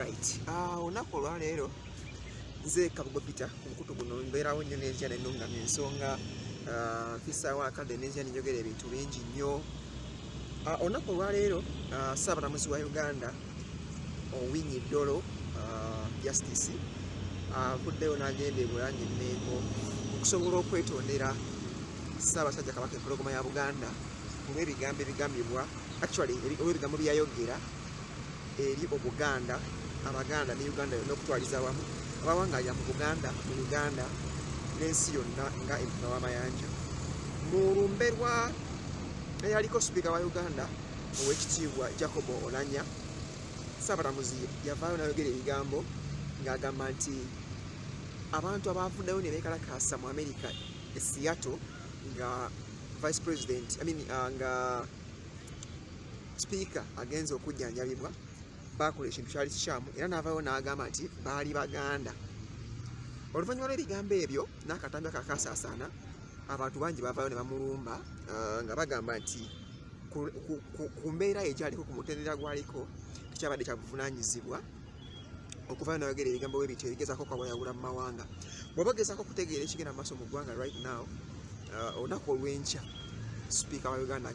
Ah, olunaku olwaleero nze kabugo pita ku mukutu guno mbeerawo nnyo n'enjia nenungama ensonga ah, mpisaawo akadde n'enjia nenjogera ebintu bingi nnyo ah, olunaku olwaleero ssaabalamuzi wa uganda owinyi dolo justice avuddeyo n'agenda ebulange mengo okusobola okwetondera ssaabasajja kabaka empologoma ya buganda olw'ebigambo ebigambibwa actually olw'ebigambo byeyayogera eri obuganda abaganda ne uganda yonna okutwaliza awamu abawangaalira mu buganda mu uganda n'ensi yonna nga empuna w'amayanja mu lumbe lwa eyaliko sipiika wa uganda owekitiibwa jacobo olanya saabalamuzi yavaayo nayogera ebigambo ng'agamba nti abantu abaavuddayo ne beekalakaasa mu amerika e seattle nga vice president I mean, uh, nga sipiika agenze okujjanjabibwa baakola ekintu kyali kikyamu era n'avaayo n'agamba nti baali baganda oluvannyuma lw'ebigambo ebyo n'akatambi akakasaasaana abantu bangi bavaayo ne bamulumba uh, nga bagamba nti ku mbeera ye gyaliko ku mutendera gwaliko tekyabadde kya buvunaanyizibwa okuvaayo nayogera ebigambo bwe bityo ebigezaako kwawayawula mu mawanga bw'oba ogezaako okutegeera ekigenda mu maaso mu ggwanga right now uh, olunaku olw'enkya sipiika wa uganda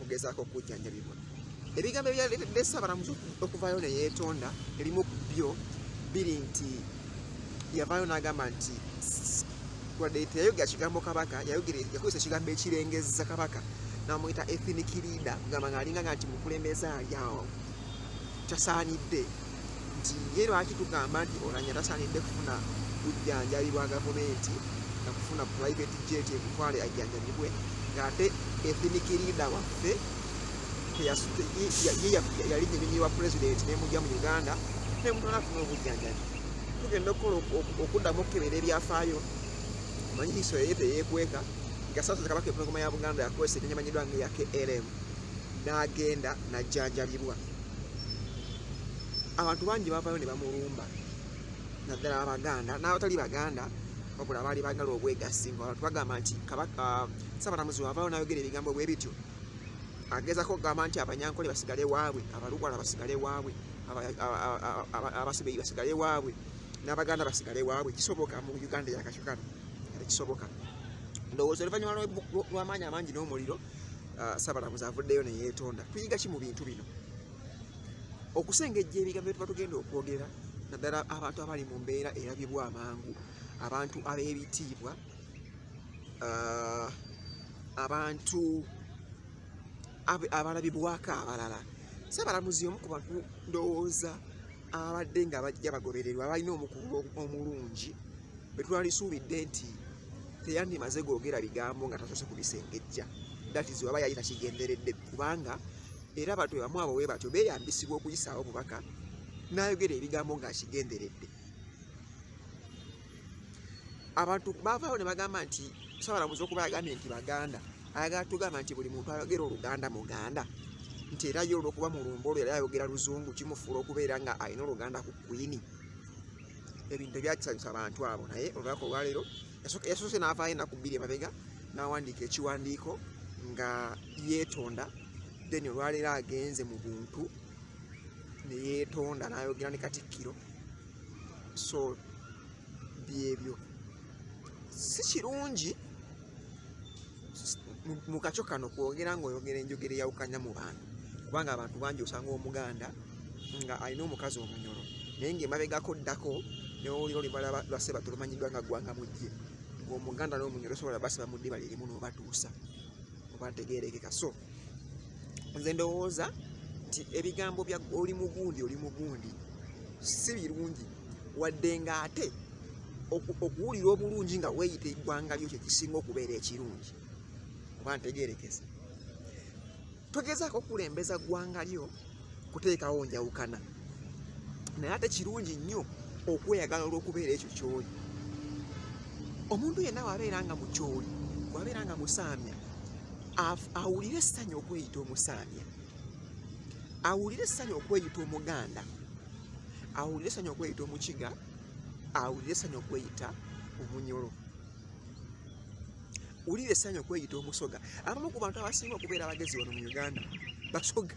okugezaako okujjanjabibwa ebigambo ebyaleetedde ssabalamuzi okuvaayo ne yeetonda ebimu ku byo biri nti yavaayo n'agamba nti wadde teyayogera kigambo kabaka yakozesa ekigambo ekirengezza kabaka namuyita ethinic leader kugamba ngaalinga nga nti mukulembeze alyawo kyasaanidde nti ye lwaki tugamba nti olanya tasanidde kufuna bujjanjabi bwa gavumenti na kufuna private jet ekutwale ajjanjabibwe ng'ate ethnic leader waffe yali nyirimi wa president nemujja mu uganda nemutwala afuna obujjanjabi tugenda okukola okuddamu okukebera ebyafaayo manyi hiso yeye teyekweka gasasoza kabaka empologoma ya buganda yakozesa ekinyamanyiddwa nga eya klm n'agenda najjanjabibwa abantu bangi bavayo ne bamulumba naddala abaganda n'abatali baganda wabula abaali bagala obwegassi nga abantu bagamba nti kabaka ah, sabalamuzi wavayo nayogera ebigambo bwe bityo agezako okugamba nti abanyankole basigale waabwe abalukwala basigale waabwe abasubeyi basigale waabwe n'abaganda basigale waabwe kisoboka mu uganda yakakyo kano kisoboka ndowooza oluvannyuma lw'amaanyi amangi n'omuliro uh, sabalamuzi avuddeyo neyetonda tuyiga ki mu bintu bino okusengejja ebigambo byetuba tugenda okwogera naddala abantu abali mu mbeera erabibwa amangu abantu ab'ebitiibwa uh, abantu abalabibwako abalala sabalamuzi omu ku bantu ndowooza ababadde nga bajja bagobererwa balina omukulu omulungi betwalisuubidde nti teyandimaze googera bigambo nga tasoose ku bisengejja datizi waba yali takigenderedde kubanga era abantu bebamu abo we batyo beyambisibwa okuyisaawo obubaka n'ayogera ebigambo ng'akigenderedde abantu baavaawo ne bagamba nti sabalamuzi okuba yagambye nti baganda ayagala tugamba nti buli muntu ayogera oluganda muganda nti era ye olwokuba mulumba olwo era ayogera luzungu kimufuula okubeera nga alina oluganda ku kwini ebintu tebyakisanyusa abantu abo naye olunaku olwaleero yasoose n'avaayo enaku bbiri emabega n'awandiika ekiwandiiko nga yeetonda then olwaleero agenze mu buntu ne yeetonda n'ayogera ne katikkiro so byebyo si kirungi mu kakyo kano kwogera ngaoyogera enjogera eyawukanya mu bantu kubanga abantu bangi osanga omuganda nga alina omukazi omunyolo naye ngaemabegako ddako newowulira olibala lwase batulumanyiddwa nga ggwanga mujje ngaomuganda nomunyolo sobola basiba mu ddiba lirimu nobatuusa obategerekeka so nze ndowooza nti ebigambo bya oli mugundi oli mugundi si birungi wadde nga ate okuwulira obulungi nga weeyita eggwanga lyo kyekisinga okubeera ekirungi oba ntegeerekese togezaako okulembeza ggwanga lyo kuteekawo njawukana naye ate kirungi nnyo okweyagala olw'okubeera ekyo kyoli omuntu yenna wabeera nga mukyoli wabeera nga musaamya awulire essanyu okweyita omusaamya awulire essanyu okweyita omuganda awulire essanyu okweyita omukiga awulire essanyu okweyita omunyolo Wulira essanyu okweyita omusoga. Abamu ku bantu abasinga okubeera abagezi wano mu Uganda basoga.